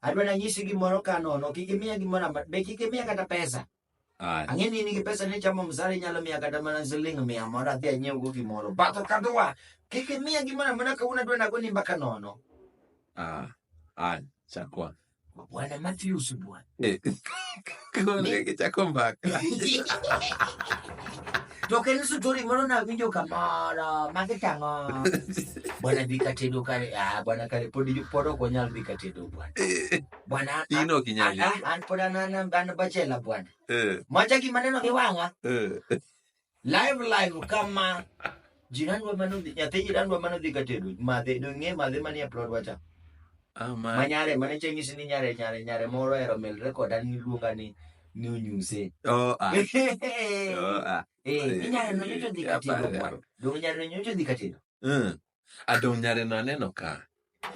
adwa nanyisi gimoro ka nono kik imiya gimoro amba- be kik imiya kata pesa Aya. ang'e ni in gi pesa ni chamo msara inyalo miya kata mana siling mia mondo adhi anyiewgo gimoro batho kadhowa kik imiya gimoro amana kawuono adwa nago ni mbaka nono Aya. Aya. Chakwa. bwana matthews bwana Eh, Koro ne gichako mbaka. To kel story moro nawinjo kamoro ma kitang'o. Bwana dhi katedo kare, ah bwana kare pod pod ok wanyal dhi katedo bwana. Eh, Bwana an- In ok inyal an- an pod an an an bachela bwana. eh, Mwacha gima neno gi wang'a. eh. live live kama jirandwa manodhi nyathi jirandwa manodhi ka tedo madhe dong'e madhe manie plod wacha Ah, ma ma nyare mane cheng'isi ni nyare nyare nyare moro ero mel rekoda ni luonga ni ni onyuse oh ah oh ah Eh, ni nyare no nyocho dhi ka tedo mwa dong' nyare no nyocho dhi ka tedo Mm. adong nyare no aneno ka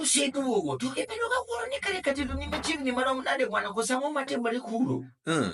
oseduogo to ibedo ka wuoro ni kare ka tedo ni machiegni marom nade kwana kose ang'o matimore kuro Mm.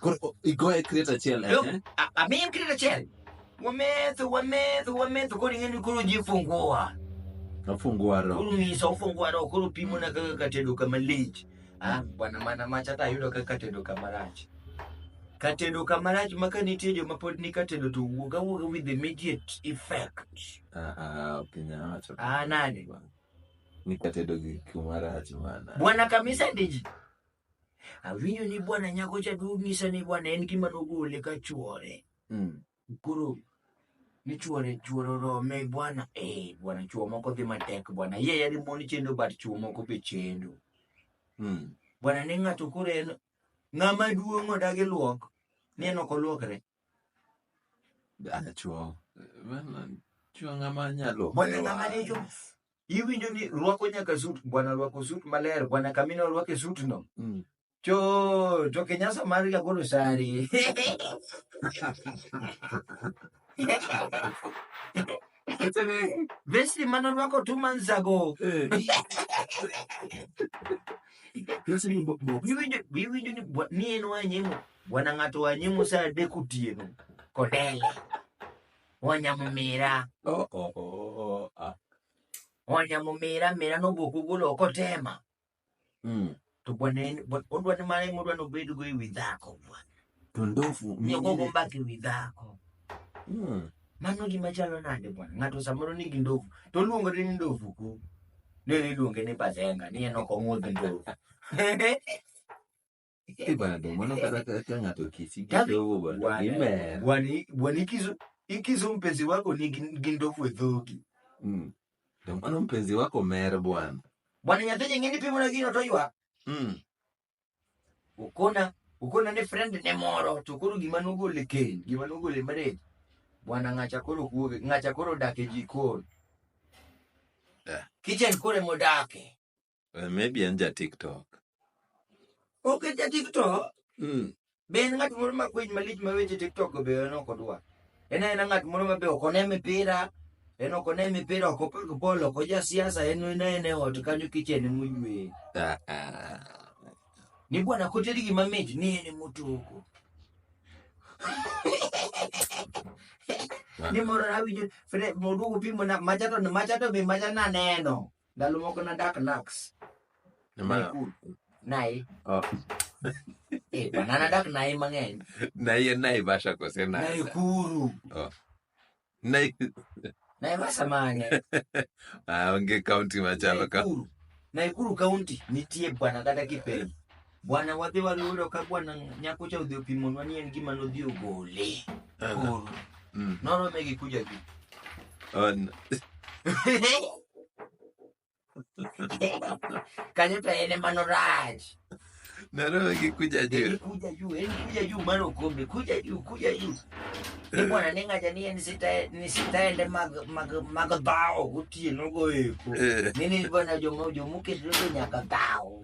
Koro o- igoye kret achiel Look, eh? a- amiye mkirita chel wametho wametho wametho koro ing'eni koro ji funguwa Afungua roho. koro ng'isa ufunguwa roho koro pimona kaka katedo kama lich Ah, bwana mana macha ta ayudo kaka katedo kama rach katedo kama rach ma ka nitie joma pod ni katedo to wuog awuoga with immediate effect Ah, ah, ok inyal wacho. Ah, nani? Ni katedo gi kuma rach mana. bwana kamisa ndiji awinjo ni bwana nyako cha nonyisa ni bwana en gima nogole ka chuore Mm. koro ni chuore chuore orome bwana eh bwana chuo moko dhi matek bwana ye yadi mon chendo but chuo moko be chendo Mm. bwana ni ng'ato koro en ng'ama duong' odagi luok ni en ok oluokre Ah, chuo. Bana, chuo ng'ama nyalo. bwana ng'ama ne jo iwinjo ni rwako nyaka sut bwana rwako sut maler bwana kamina orwake sutno Mm. to to kinyasa mar jagolo sari vesti mane orwako two months ago Eh. Yesu ni bo- bo- iwinjo iwinjo ni bwa- ni en wanyimo bwana ng'ato wanyimo sa adek otieno kodele Wanyamumira. Oh, oh, oh, oh, oh, ah. Wanyamumira mira nowuok ogolo ok otema. Mm. To bwana en- bwa- odwa ni mare modwa ni obedgo ewi dhako bwana. To ndofu Ni ogogo mine. mbaka ewi dhako. Mm. Mano gima chalo nade bwana. Ng'ato samoro nigi ndovu to oluongore ni ndovu ku. Nene iluonge ni bazenga ni en ok ong'udh ndovu. Eh, bwana ndio maana eh, ukataka hata ngato kisi kidogo bwana. Ime. Bwana bwana ikizo ikizo mpenzi wako ni gindofu dhoki. Mm. Ndio maana mpenzi wako mere bwana. Bwana nyathi nyingine pimo na gino to ywa. Mm. Ukona ukona ne friend ne moro to koro gima nogole ken, gima nogole marriage. Bwana ngacha koro kuoge, ngacha koro dake jikon. Yeah. Kitchen kore modake. Eh, Maybe en ja TikTok. Ok en ja TikTok. Mm. Be en ng'at moro ma kwiny malich ma weche TikTok go be en ok odwar. En aena ng'at moro ma be ok one mipira, en ok one mipira, ok opag bol, ok oja siasa, en en aena e ot kanyo kichene moywe. Ah, ah. Ni bwana koteri gima mit ni en motoko. Ni moro awinjo fre moduogo pimo na machato machato be macha naneno. Ndalo moko nadak Nax, Nimar Nakuru, Nai. Oh. Eh, bana nadak Nai mang'eny. naye Naivasha kose Nasa? Naikuru. Oh. Nai- Naivasha mang'eny. Ah, onge kaunti machalo ka Naikuru. Naikuru County nitie bwana kata kipenjo. Bwana wadhi waluro ka bwana nyako cha odhi opimonwa ni en gima nodhi ogole. Ala. Koro. Mm. Norome gi kuja gi. An- Kanyo to en ema norach. Narowe gi kuja En juu. kuja juu, en kuja juu mar okombe, kuja juu, kuja juu. Ni bwana ne ng'acha ni en sita ni sitaende mag mag mag dhawo gotieno goeko. Eh. Nini bwana jomo jomo kedo nyaka dhawo.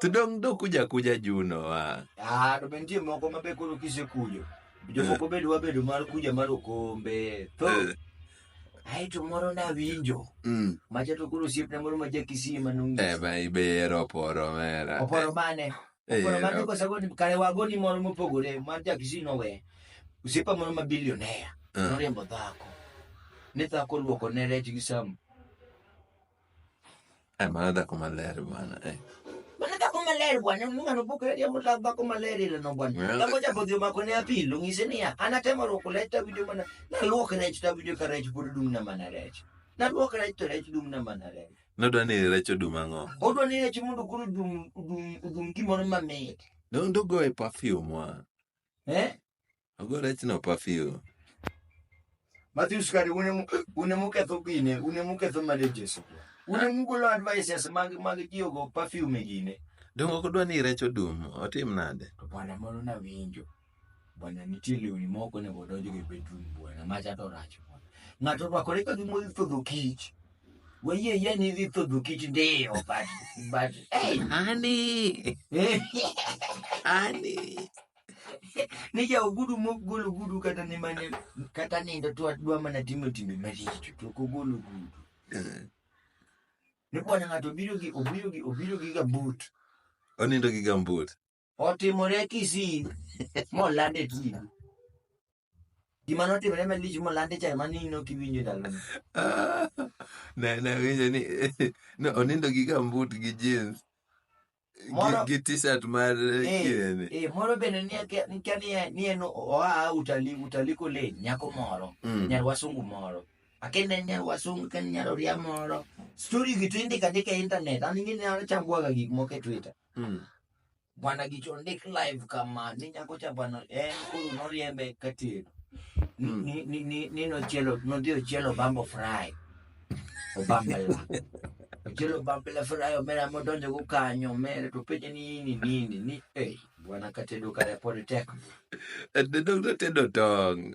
to dong' dok kuja kuja juno wa. Ah, to be nitie moko ma be koro kisekujo. Jomoko be dwa bedo mar kuja mar okombe. To Eh, ai to moro nawinjo. mm. Macha to koro osiepna moro ma jakisii ma Eh, nong'is. ma ibero oporo mera. Oporo mane? Eh, Oporo mane eh, kosago ni kare wago ni moro mopogore mar jakisii nowe. Osiepa moro ma bilionea. eh. Noriembo dhako. Ne dhako luoko ne rech gi sam. Eh, mano dhako maler bana. Eh. Mano dhako maler bwana, Mungu anapokuja jambo la dhako maler ile no bwana. Well- Dhako japo dhio mako ne apilo ngise niya, anatemo roko leta video mana. Na luok rech ta video ka rech pod dum na mana rech. Na luok rech to rech dum na mana rech. Nodwa ni rech odum ang'o? Odwa ni rech mondo koro dum dum dum gimoro mamit. Nondo go e perfume wa. Eh? Ogo rechno perfume. Matthews kare une mu- une muketho gine une muketho marriages kwa. une mugolo advices mag mag tiyogo perfume gine Donge ok odwa ni rech odum? Otim nade? to bwana moro nawinjo bwana nitie lewni moko onego odonjo e bedroom bwana macha to rach bwana ng'ato orwakore ka gima odhi thodho kich wayie yie ni idhi thodho kich ndiyo but but hey, Ani! Ani! ni ja ogudu mok gol ogudu kata ni mane kata nindo to adwa mana timo timbe maricho to ok ogol ogudu Eh, ni kwana ng'ato obiro gi obiro gi obiro gi gambut Onindo gi gambut. otimore kisii molande tibi Gima notimore malich molandi cha ema ni nok iwinjo e ndalono. Ah, na nawinjo ni no, onindo gi gambut gi jeans gi, Moro- gi t-shirt mar Eh, kirene eh, moro bende ni akia ni akia ni en- ni en oa utali utali kole nyako moro Mm. nyar wasungu moro akende en nyar wasungu ken nyar oria moro story gi to indika ndika e internet an ing'e ni an achambwaga gik moko e twitter Mm. Bwana Gicho ondik live kama ni nyako cha bwana en koro noriembe ka tedo. Ni- Mm. Ni ni ni ni nochielo nodhi ochielo bambo fry. Obambela. Ochielo bambela fry omera modonjo go kanyo omera to penje ni nini nini ni eh bwana ka tedo kare pod tek. The doctor tedo tong.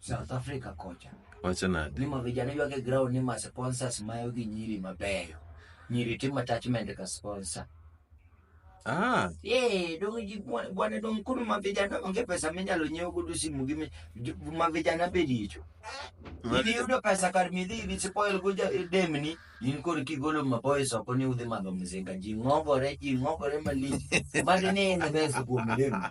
South Africa kocha. Wacho nade? Ni ma vijana ywage ground ni ma sponsors mayo gi nyiri mabeyo. Nyiri timo attachment ka sponsor. Ah. Eh, dong ji bwana dong kuno ma vijana onge pesa minyalo nyiewo godo simu gi ma vijana be dicho. Idhi yudo pesa kar midhi idhi spoil go eh, demni in kod kigolo ma boys oko ni udhi madho mzinga ji ng'ogore ji ng'ogore malich. Magi ni in the best kuom demni.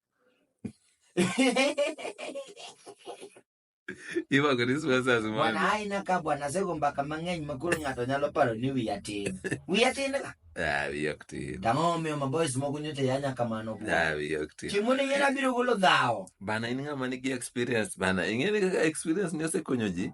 Iwako ni swa sa sumani. Bwana ai na ka bwana sego mbaka mang'eny ma koro ng'ato nyalo paro ni wiya tin. Wiya tin ka. Ah, wiya ok tin. Tang'o omiyo ma boys moko nyocha yanya kamano kuwa. Ah, wiya ok tin. Chieng' moro ing'era biro golo dhawo. Bana in ng'ama nigi experience bana. Ing'eni kaka experience ni osekonyo ji?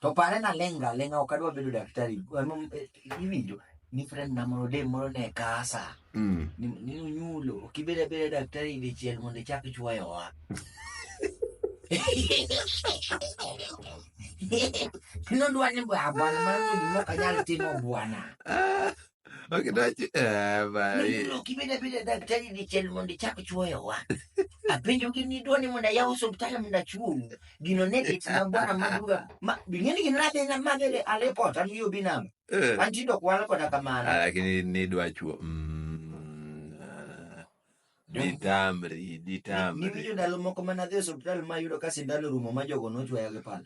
To pare naleng' ga aleng'a ok adwa bedo daktari. Ema eh, iwinjo ni friend na moro dem moro ne kasa. Mm. Ni ni onyulo ok ibed abeda daktari dichiel mondo ichak ichuoyo wa. Nodwa ni bwana bwana mano gima ok anyal timo bwana. Ok, dachi- eh, ba- Nonro kibeda beda daktari dichiel mondo ichak chuoyo wa. Apenjo gi ni dwani mondo ayaw osiptal mondo achuowu. Gino ne dit na bwana maduga. Ma bingeni gin nade na mabele alepot an yo binam. eh. An tindo kwala koda kamano. Ah, lakini nidwa chuo mm, ah, ditamri ditamri Niwinjo ndalo moko mana dhi osiptal ma yudo ka sindan orumo ma jogo nochuoya gi pala.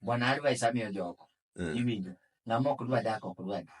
Bwana advice amiyo jogo. Mm. Iwinjo. Ng'ama ok dwa dak ok dwa dak.